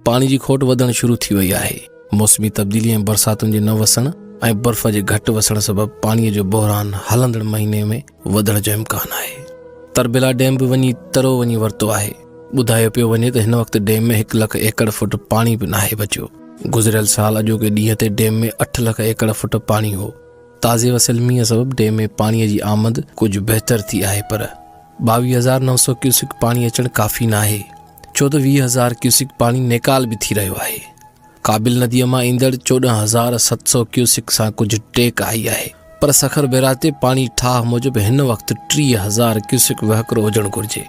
پاڻي جي کوٽ وڌڻ شروع ٿي وئي آهي موسمي تبديلي ۽ برساتن جي نه وسڻ ۽ برف جي گهٽ وسڻ سبب پاڻي جو بحران هلندڙ مهيني ۾ وڌڻ جو امڪان آهي تربيلا ڊيم به وڃي ترو وڃي ورتو آهي ٻڌايو پيو وڃي ته هن وقت ڊيم ۾ هڪ لک ايڪڙ فٽ پاڻي به ناهي بچيو گذريل سال اڄوڪي ڏينهن تي ڊيم ۾ اٺ لک ايڪڙ فٽ پاڻي هو تازي وسيل مينهن سبب ڊيم ۾ پاڻي جي آمد ڪجهه بهتر ٿي آهي پر ٻاويهه هزار نو سؤ ڪيوسڪ پاڻي اچڻ ڪافي ناهي ڇو ته ويهه هزار ڪيوسڪ پاڻي نيڪال به ٿي رهيو آهي. ڪابل نديء مان ايندڙ چوڏهن هزار ست سؤ ڪيوسڪ سان ڪجهه ٽيڪ آئي آهي پر سکر بيراج تي پاڻي ٺاهه موجب هن وقت ٽيهه هزار ڪيوسڪ وهڪرو هجڻ گهرجي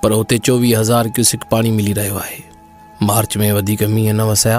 پر اتي چوويهه هزار ڪيوسڪ پاڻي ملي رهيو آهي. مارچ ۾ وڌيڪ مينهن نه وسيا.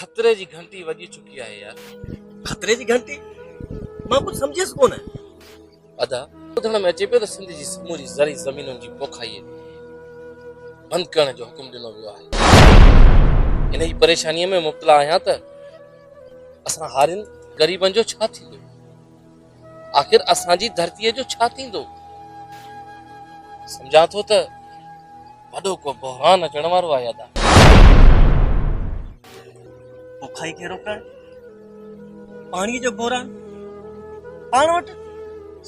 خطري جي گهنٽي وڄي چڪي آهي يار. خطري جي گهنٽي؟ مان ڪجهه سمجهيس ڪونه. ادا ٻڌڻ ۾ اچي پيو ته سنڌ جي سموري زرعي زمينن جي پوکائي بند ڪرڻ جو حڪم ڏنو ويو آهي. انهي پريشاني ۾ مبتلا آهيان ته اسان هارين غريبن جو ڇا ٿيندو؟ آخر اسان جي ڌرتيء جو ڇا ٿيندو؟ سمجهان ٿو ته وڏو ڪو بحران اچڻ وارو آهي ادا. بکائي کي روڪڻ پاڻيء جو بحران پاڻ وٽ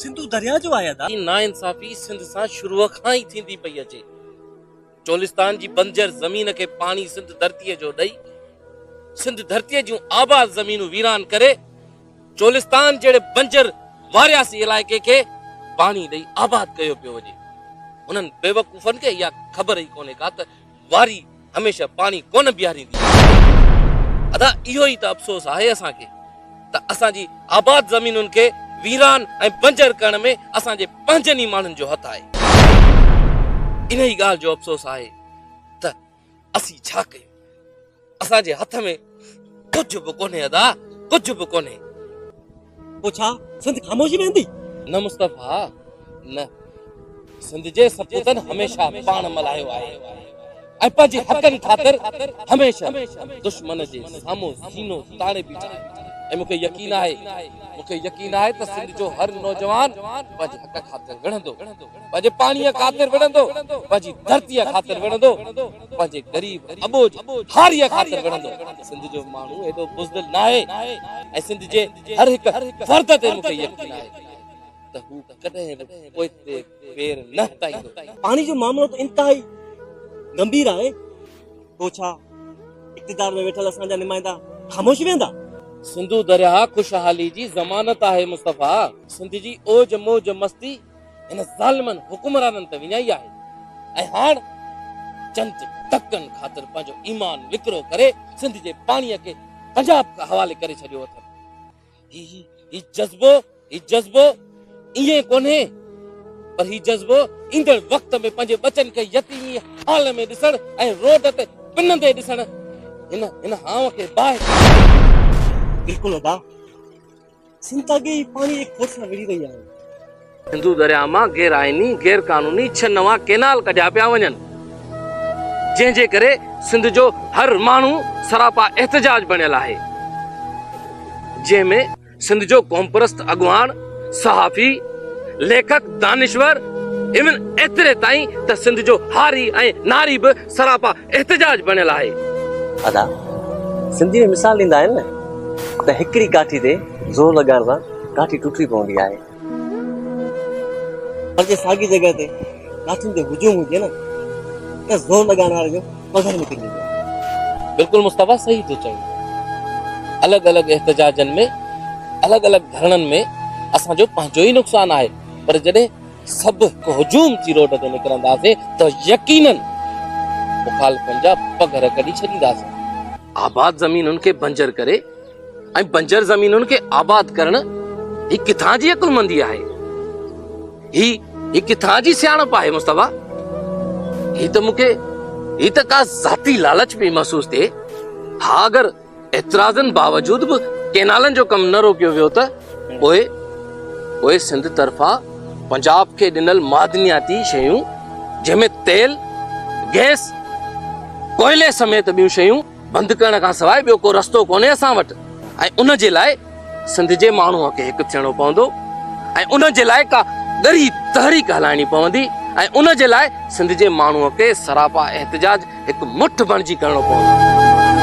سنڌو درياهه جو آهي ادا. هي ناانصافي سنڌ سان شروع کان ئي ٿيندي پئي اچي. چولستان جي بنجر زمين کي پاڻي سنڌ ڌرتيء جو ڏئي، سنڌ ڌرتيء جون آباد زمينون ويران ڪري، چولستان جهڙي بنجر وارياسي علائقي کي پاڻي ڏئي آباد ڪيو پيو وڃي. هنن بيوقوفن کي اها خبر ئي ڪونهي ڪا ته واري هميشه پاڻي ڪونه بيهاريندي آهي. ادا اهو ئي ته افسوس آهي اسان کي. ته اسان جي آباد زمينن کي ويران ۽ بنجر ڪرڻ ۾ اسان جي پنهنجن ئي ماڻهن جو هٿ آهي. انهي ڳالهه جو افسوس آهي ته اسين ڇا ڪيون؟ اسان جي هٿ ۾ ڪجهه به ڪونهي ادا، ڪجهه به ڪونهي. پوء ڇا سنڌ خاموش رهندي؟ نه مصطفيٰ نه. سنڌ جي سپوتن هميشه پاڻ ملهايو آهي ۽ پنهنجي حقن خاطر هميشه دشمن جي سامهون سينو تاڻي بيٺا آهن ۽ مون کي يقين آهي مون کي يقين آهي ته سنڌ جو هر نوجوان پنهنجي حق خاطر وڙهندو پنهنجي پاڻي خاطر وڙهندو پنهنجي ڌرتي خاطر وڙهندو پنهنجي غريب اٻوجهه هاري خاطر وڙهندو سنڌ جو ماڻهو هيڏو بزدل ناهي ۽ سنڌ جي هر هڪ فرد تي مون کي يقين آهي ته هو ڪڏهن به پوئتي پير نه هٽائيندو. پاڻي جو معاملو ته انتهائي ڳنڀير آهي، پوء ڇا اقتدار ۾ ويٺل اسان جا نمائندا خاموش ويهندا؟ سنڌو درياهه خوشحالي جي ضمانت آهي مصطفيٰ. سنڌ جي اوج موج مستي هن ظالمن حڪمرانن ته وڃائي آهي ۽ هاڻ چند ٽڪن خاطر پنهنجو ايمان وڪرو ڪري سنڌ جي پاڻيء کي پنجاب حوالي ڪري ڇڏيو اٿن. هي جذبو هي جذبو ائين ڪونهي پر هي جذبو ايندڙ وقت ۾ پنهنجي ٻچن کي يتيمي حال ۾ ڏسڻ ۽ روڊ تي پنندي ڏسڻ هن هن هانء کي باهه بلڪل ادا سنڌ اڳي ئي پاڻي جي کوٽ سان وڙهي رهي آهي. سنڌو درياهه مان غير آئيني، غير قانوني ڇهه نوان ڪينال ڪڍيا پيا وڃن، جنهن جي ڪري سنڌ جو هر ماڻهو سراپا احتجاج بڻيل آهي، جنهن ۾ سنڌ جو قومپرست اڳواڻ، صحافي، ليکڪ، دانشور ايون ايتري تائين ته سنڌ جو هاري ۽ ناري به سراپا احتجاج بڻيل آهي. ادا سنڌي ۾ مثال ڏيندا آهن نه ته هڪڙي ڪاٺي تي زور لڳائڻ سان ڪاٺي ٽٽي پوندي آهي. پر جي ساڳي جڳهه تي ڪاٺين جو هجوم هجي نه ته زور لڳائڻ واري جو پگهر نڪري ويندو آهي. بلڪل مصطفيٰ صحيح ٿو چوين الڳ الڳ احتجاجن ۾ الڳ الڳ ڌرڻن ۾ اسان جو پنهنجو ئي نقصان آهي پر جڏهن سڀ هڪ هجوم ٿي روڊ تي نڪرنداسين ته يقيناً مخالفن جا پگهر ڪڍي ڇڏينداسين. آباد زمينن کي بنجر ڪري ۽ بنجر زمينن کي آباد ڪرڻ هي ڪٿان جي عقلمندي آهي هي هي ڪٿان جي سياڻپ آهي مصطفيٰ هي ته مونکي هي ته ڪا ذاتي لالچ پي محسوس ٿئي ها اگر اعتراضن باوجود به ڪينالن جو ڪم نه روڪيو ويو ته پوء پوء سنڌ طرفان پنجاب کي ڏنل معدنياتي شيون جنهن ۾ تيل گئس ڪوئلي سميت ٻيون شيون بند ڪرڻ کان سواء ٻيو ڪو رستو ڪونهي اسان وٽ ۽ ان جي لاء سنڌ جي ماڻهوء کي هڪ ٿيڻو پوندو ۽ ان جي لاء ڪا ڳري تحريڪ هلائڻي پوندي ۽ ان جي لاء سنڌ جي ماڻهوء کي سراپا احتجاج هڪ مٺ بڻجي ڪرڻو پوندو.